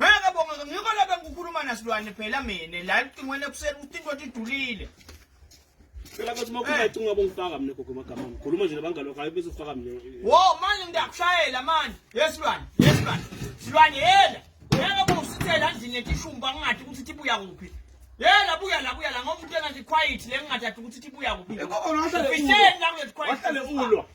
Ngeke bonga ngikho lapha ngikhuluma nasilwane phela mina la licingweni ekuseni ukuthi into idulile. Phela bathi makhuluma icingo yabo ngifaka mina gogo magama. Ngikhuluma nje nabangalo kayi bese ufaka mina. Wo manje ngiyakushayela manje. Yesilwane, yesilwane. Silwane yela. Ngeke bosithela endlini yetishumba ngingathi ukuthi ibuya kuphi. Yela buya la buya la ngoba umuntu engathi quiet le ngingathi ukuthi ibuya kuphi. Eko ona sale. Fisheni la kulethi quiet. Wahlale ulwa.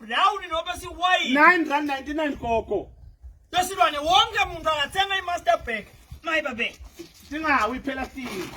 brown nobe siwhite 9 rand 99 gogo lesilwane wonke muntu angathenga i-master bag mayibabe singawi phela sini